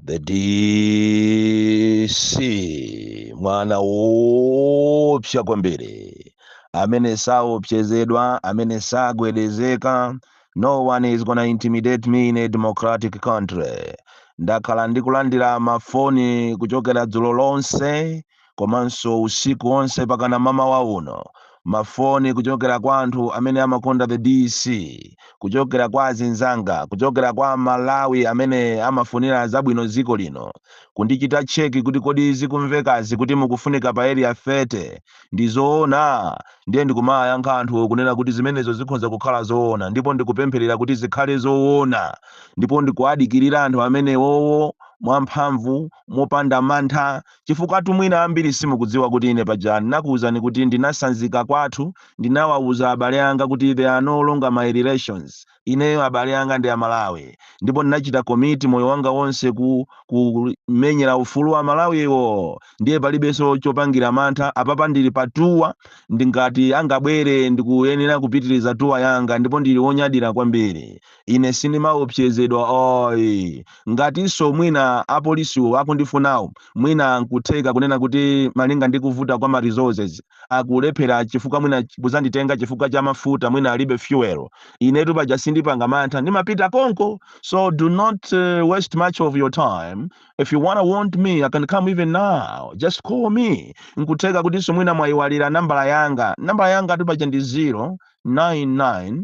the dc mwana woopsa kwambiri amene saopsezedwa amene sagwedezeka no one is gonna intimidate me in a democratic country ndakhala ndikulandira mafoni kuchokera dzulo lonse komanso usiku onse mpakana mmawa uno mafoni kuchokera kwa anthu amene amakonda the DC, kuchokera kwa azinzanga, kuchokera kwa Amalawi amene amafunira zabwino dziko lino, kundichita cheki kuti kodi zikumvekazi kuti mukufunika pa Area 30 ndi zoona? Ndiye ndikumayankha anthuwo kunena kuti zimenezo zikhoza kukhala zoona ndipo ndikupempherera kuti zikhale zoona ndipo ndikuwadikirira anthu amenewowo mwamphamvu, mopanda mantha. Chifukwatu mwina ambiri simukudziwa kuti ine paja ndinakuuzani kuti ndinasanzika kwathu ndinawauza abale anga kuti they are no longer my relations, ineyo abale anga ndi Amalawi ndipo ndinachita commit moyo wanga wonse ku kumenyera ufulu wa Amalawiwo ndiye palibenso chopangira mantha apapa ndili pa tour ndi ngati angabwere ndikuyenera kupitiriza tour yanga ndipo ndili wonyadira kwambiri. ine sindimaopsezedwa ayi ngatinso mwina apolisiwo akundifunawo mwina nkutheka kunena kuti malinga ndi kuvuta kwa ma resources akulephera chifukwa mwina ch- kuzanditenga chifukwa cha mafuta mwina alibe fuel inetu paja sindipanga mantha ndimapita konko so do not uh, waste much of your time if you wanna want me i can come even now just call me nkutheka kutinso mwina mwayiwalira nambala yanga nambala yangatu paja ndi 099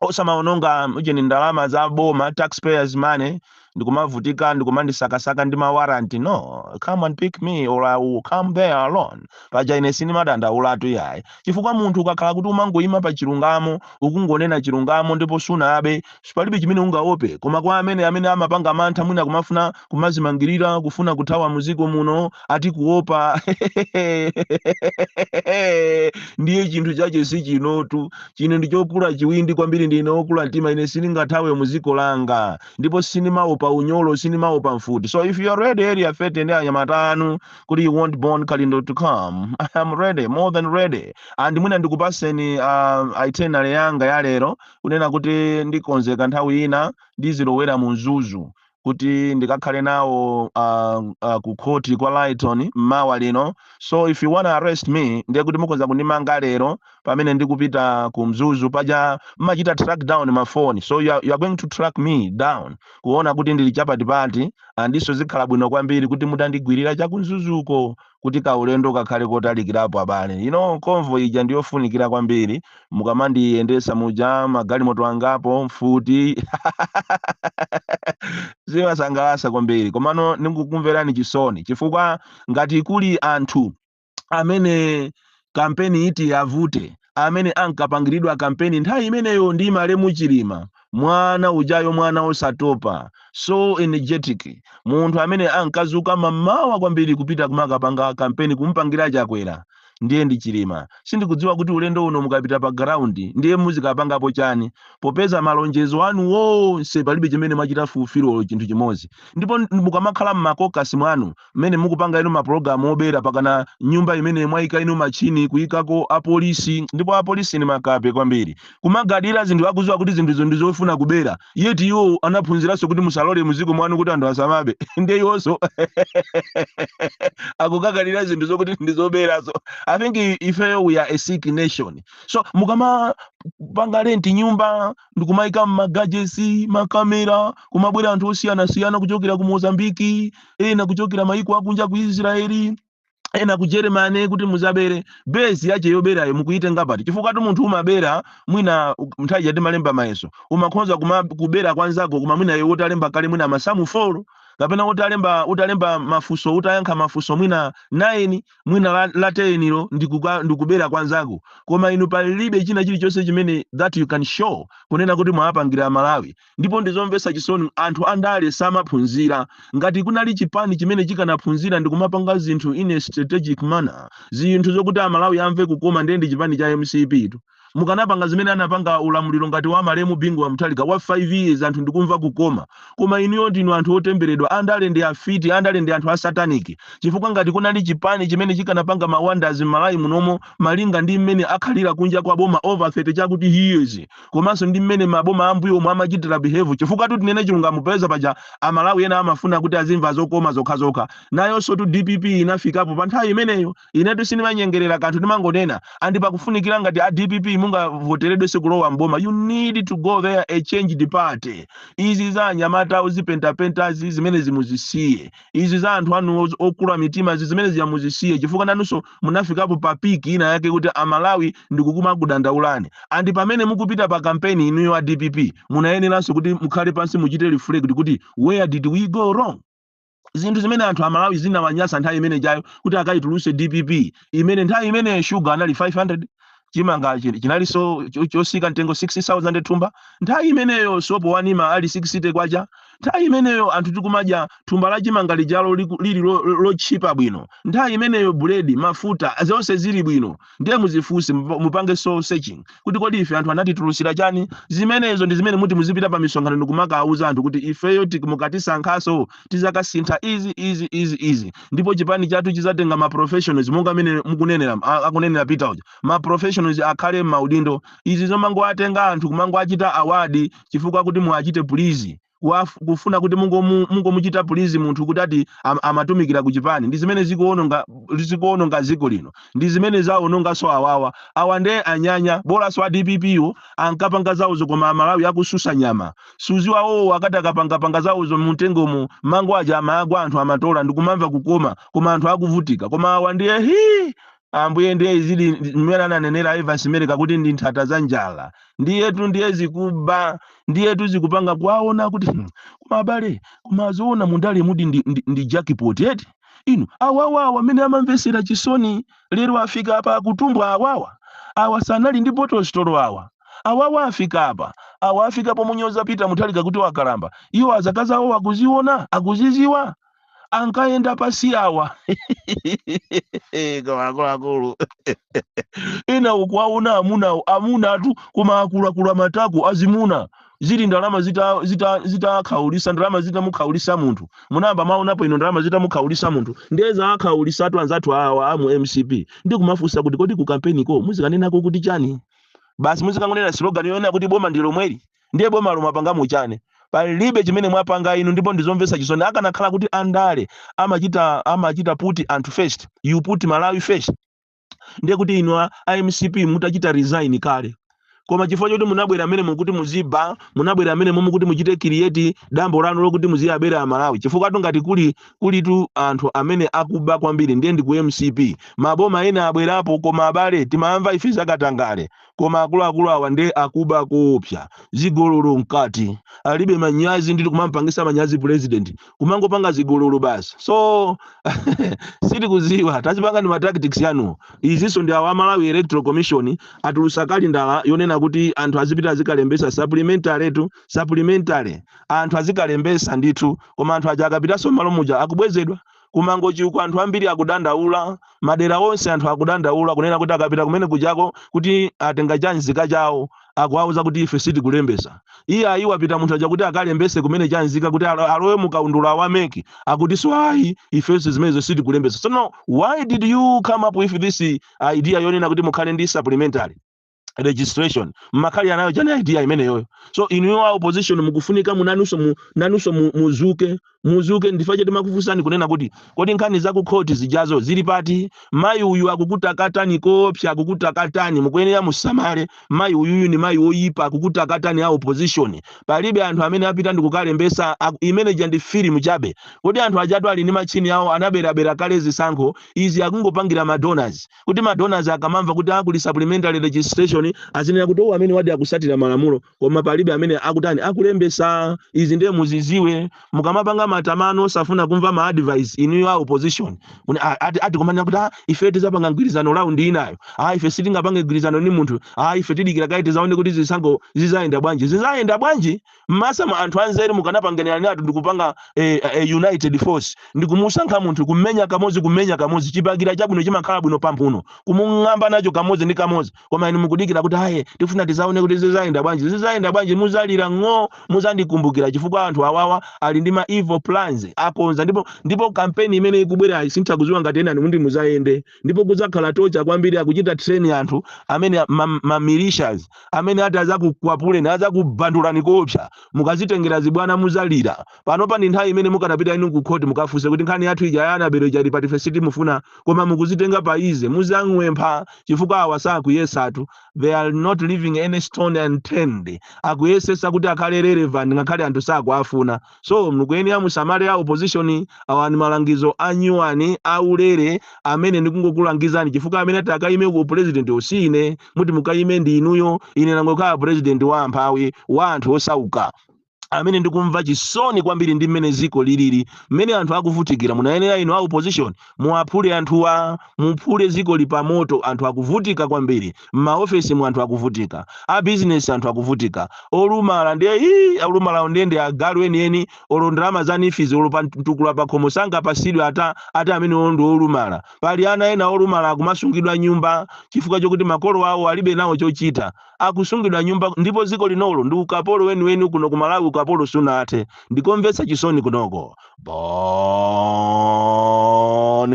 osamaononga ujeni ndalama za boma taxpayers money ndikumavutika ndikumandisakasaka ndi mawaranti no come and pick me or i will come there alone paja ine sindimadandaulatu yayi chifukwa munthu ukakhala kuti umangoyima pa chilungamo ukungonena chilungamo ndipo sunabe palibe chimene ungaope koma kwa amene amene amapanga mantha mwina kumafuna kumazimangirira kufuna kuthawa muziko muno ati kuopa ndiye chinthu chache si chinotu chine ndichokula chiwindi kwambiri ndine okula mtima ine sindingathawe muziko langa ndipo sindimaopa unyolo sindimaopa mfuti so if you are ready area 30 ndi anyamata anu kuti you want bon kalindo to come i am ready more than ready and mwina ndikupatseni uh, itinerary yanga yalero kunena kuti ndikonzeka nthawi ina ndizilowera mu mzuzu kuti ndikakhale nawo uh, uh, ku khoti kwa Lyton mmawa lino so if you wanna arrest me ndiye kuti mukhoza kundimanga lero pamene ndikupita ku mzuzu paja mmachita track down mafoni so you are, you are going to track me down kuona kuti ndili chapatipati andiso zikhala bwino kwambiri kuti mutandigwirira cha ku mzuzuko kuti kaulendo kakhale kotalikirapo abale you know convoy ija ndiyofunikira kwambiri mukamandiyendesa muja magalimoto angapo mfuti zimasangalasa kwambiri komano ndikukumverani chisoni chifukwa ngati kuli anthu amene kampeni iti avute amene ankapangiridwa kampeni nthawi imeneyo ndi malemu chilima mwana ujayo mwana osatopa so energetic munthu amene ankazuka mamawa kwambiri kupita kumakapanga kampeni kumupangira chakwera ndiye ndi chilima sindikudziwa kuti ulendo uno mukapita pa ground ndiye muzikapangapo chani popeza malonjezo anu wonse palibe chimene mwachita fulfil olo chinthu chimodzi ndipo mukamakhala mmakokasi mwanu mmene mukupanga inu mapulogalamu obera pakana nyumba imene mwaika inu machini kuikako apolisi ndipo apolisi ni makape kwambiri kumagadira zinthu akuziwa kuti zinthuzo ndi zofuna kubera yet iwo anaphunziranso kuti musalole muziko mwanu kuti anthu asamabe nde iwonso akukagadira zinthu zokuti ndi zoberazo i think i- ifeyo we are a sick nation so mukamapanga rent nyumba ndikumayika magajeti makamera kumabwera anthu osiyanasiyana kuchokera ku mozambiki ena kuchokera mayiko akunja ku israeli ena ku germany kuti muzabere besi yache yoberayo mukuyitenga pati chifukwa tu munthu umabera mwina u- nthawi ija timalemba mayeso umakhonza kumakubera kwanzako koma mwina iwe utalemba kale mwina masamu folo kapena utalemba utalemba mafunso utayankha mafunso mwina 9 mwina la, la tenilo ndikubera kwa nzako koma inu palibe china chilichonse chimene that you can show kunena kuti mwawapangira amalawi ndipo ndizomvetsa chisoni anthu andale samaphunzira ngati kunali chipani chimene chikanaphunzira ndikumapanga zinthu in a strategic manner zinthu zokuti amalawi amve kukoma ndiye ndi chipani cha mcptu mukanapanga zimene anapanga ulamuliro ngati wa malemu Bingu wa Mutharika wa 5 years anthu ndikumva kukoma koma inuyo ndinu anthu otemberedwa andale ndi afiti andale ndi anthu a satanic chifukwa ngati kunali chipani chimene chikanapanga ma wonders m'malawi munomo malinga ndi mmene akhalira kunja kwa boma over 30 chakuti he years komanso ndi mmene maboma ambuyomu amachitira behave chifukwatu tinene chilungamo peza paja amalawi ena amafuna kuti azimva zokoma zokhazokha nayonsotu dpp inafikapo pa nthawi imeneyo Inetu sindimanyengerera kanthu ndimangonena and pakufunikira ngati a dpp mungavoteredwenso kulowa m'boma you need to go there a changed party. Izi za anyamata ozipentapentazi zimenezi muzisiye. Izi za anthu anuwo okula mitimazi zimene zija muzisiye chifukwa nanunso munafikapo pa peak ina yake kuti Amalawi ndikumakudandaulani. And pamene mukupita pa kampeni inuyo a dpp munayeneranso kuti mukhale pansi muchite reflect kuti where did we go wrong? zinthu zimene anthu amalawi zinawanyasa nthawi imene ijayo kuti akayituluse dpp imene nthawi imene shuga anali 500 chimanga chi- chinalinso cho- chotsika mtengo 60000 thumba nthawi imeneyo sopo wa Nima ali 60 kwacha nthawi imeneyo anthu tikumadya thumba la chimanga lijalo liku- lili lo- lo- lotchipa bwino nthawi imeneyo buledi mafuta zonse zili bwino Ndiye muzifunse, mupa- mupange soul searching kuti kodi ife anthu anatitulusira chani? Zimenezo ndi zimene muti muzipita pa misonkhano ndi kumakawuza anthu kuti ifeyo tik- mukatisankhaso tizakasintha izi izi izi izi ndipo chipani chathu chizatenga ma professionals monga amene mukunenera a- akunenera Peter uja ma professionals akhale m'maudindo izi zomangowatenga anthu kumangoachita award chifukwa kuti muwachite please kuwaf- kufuna kuti mungomu- mungomuchita please munthu kuti ati am, amatumikira ku chipani ndi zimene zikuononga zikuononga dziko lino ndi zimene zaononganso awawa awa nde anyanya bolanso a dpp wo ankapanga zawozo koma amalawi akususa nyama zawozawozo akati akapangapanga zawozo mumtengomo mango aja amagwa anthu amatola ndikumamva kukoma koma anthu akuvutika koma awa ndiye hii Ambuye, ndiye izi zili mmene ananenera Evans Meleka kuti ndi nthata za njala. Ndiyetu ndiye zikuba, ndiyetu zikupanga kuwaona kuti hmm, koma abale, koma zoona mundalemu ndi, ndi, ndi jackpot eti. Inu awawa awa amene amamvetsera chisoni lero afika apa akutumbwa awawa. Awa sanali ndi bottle store awa. Awawa afika apa. Awa afika pomunyoza Peter Mutharika kuti wakalamba. Iwo azikazawo akuziona, akuziziwa. ankayenda pasi awa koma akuluakulu ena ukuwaona amunawo amuna atu koma akula matako azimuna zili ndalama zitakhaulisa zita, zita ndalama zitamukhaulisa munthu munayamba mwaonapo inu ndalama zitamukhaulisa munthu nde zaakhaulisatu anzathu awa amu mcp ndi kumafunsa kuti kodi ku kampeniko muzikanenako kuti chani basi muzikangonena slogan yonena kuti boma ndi lomweli ndiye bomalo mwapangamo chani palibe chimene mwapanga inu ndipo ndizomvetsa chisoni akanakhala kuti andale amachita amachita put anthu first you put malawi first ndiye kuti inu a a mcp mutachita resign kale koma chifukwa choti munabwera mmenemo kuti muziba munabwera mmenemo kuti muchite create dambo lanu lokuti muziyabera amalawi chifukwa tu ngati kuli kulitu anthu amene akuba kwambiri ndiye ndi ku mcp maboma ena abwerapo koma abale timamva ife zakatangale Koma akuluakulu awa nde akuba koopsa. Zigololo mkati. Alibe manyazi ndithu kumampangisa manyazi president. Kumangopanga zigololo basi. So sitikuziwa tazipangani ma tactics yanuwo. Enaso ndi awa Malawi Electoral Commission atulusa kalendala yonena kuti anthu azipita azikalembesa supplementary tu supplementary. Anthu azikalembesa ndithu koma anthu aja akapitaso mmalo muja akubwezedwa. Ku Mangochi uku anthu ambiri akudandaula, madera onse anthu akudandaula kunena kuti akapita kumene kujako kuti atenga cha nzika chawo akuwauza kuti ife sitikulembesa. Iyayi wapita munthu aja kuti akalembese kumene cha nzika kuti alo- alowe mu kaundula wa MEC akutinso ayi ifenso zimenezo sitikulembesa. Tsono why did you come up with this idea yonena kuti mukhale ndi supplementary? registration mmakali anayo jana idea imeneyoyo so inu a opposition mukufunika munanuso mu, nanuso mu, muzuke muzuke nchifukwa chake timakufusani kunena kuti kodi nkhani za kukhoti zijazo zili pati mayi uyu akukutakatani koopsa akukutakatani mukuyenera musamale mayi uyuyu ni mayi oyipa akukutakatani a opposition palibe anthu amene apita ndikukalembesa aku- imene ija ndi filimu chabe kodi anthu ajatu ali ndi matchini awo anaberabera kale zisankho izi akungopangira madonors kuti ma donors akamamva kuti a kuli supplementary registration azinena kuti owo amenewadi akusatira malamulo koma palibe amene akutani akulembesa izi ndiye muziziwe mukamapanga matama anu osafuna kumva ma advice inuyo a opposition Mune- a- ati ati kumanena kuti "Ah, ife tizapanga mgwirizano round inayo ah ife sitingapange mgwirizano ni munthu ah ife tidikira kaye tizaone kuti zisankho zizayenda bwanji zizayenda bwanji mmasa mwa anthu anzeru mukanapanganiratu ndikupanga eh, eh, united force ndikumusankha munthu kumenya kamodzi kumenya kamodzi chibakera chabwino chimakhala bwino pamphuno kumung'amba nacho kamodzi ndi kamodzi koma inu mukudikira kuti aye tifuna tizaone kuti zizayenda bwanji zizayenda bwanji muzalira ng'o muzandikumbukira chifukwa anthu awawa ali ndi ma evil plans akonza ndipo ndipo kampeni imene ikubwerayi sinditha kuziwa ngati enanu muti muzayende ndipo kudzakhala torture kwambiri akuchita train anthu amene a- ma, ma militias amene ati azakukwapuleni azakubandulani koopsa mukazitengera zibwana muzalira panopa ndi nthawi imene mukanapita inu kukhoti mukafunse kuti nkhani yathu ija ya Annabel ija ili pati ife sitimufuna koma mukuzitenga pa easy muzang'wempha chifukwa awa sakuyesatu they are not leaving any stone unturned akuyesesa kuti akhale relevant ngakhale anthu sakuafuna so mukuyenera musamale a opposition awa ni malangizo anyuwani aulere amene ndikungokulangizani chifukwa amene ati akayime ku president si ine muti mukayime ndi inuyo ine nangokhala president wa amphawi wa anthu osauka amene ndikumva chisoni kwambiri ndi mmene ziko lilili mmene anthu akuvutikira munayenera inu a opposition Muwaphule anthuwa, muphule zikoli pamoto anthu akuvutika kwambiri, mmaofesimu anthu akuvutika, a business anthu akuvutika, olumala ndiye hii olumalawo ndiye ndi agalu enieni olo ndalama za NEEF izi olo pa mtukula pakhomo sangapasidwe ata ati amenewo ndi olumala. Pali ana ena olumala akumasungidwa mnyumba chifukwa chokuti makolo awo alibe nawo chochita. Akusungidwa mnyumba ndipo ziko linolo ndi ukapolo weniweni kuno ku Malawi ukapolo sunathe. Ndikomvetsa chisoni kunoko. Bon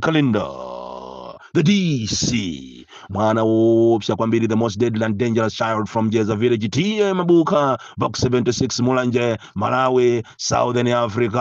Kalindo, the DC, mwana woopsa kwambiri, the most deadly and dangerous child from Jeza village, TA Mabuka, Box 76, Mulanje, Malawi, Southern Africa.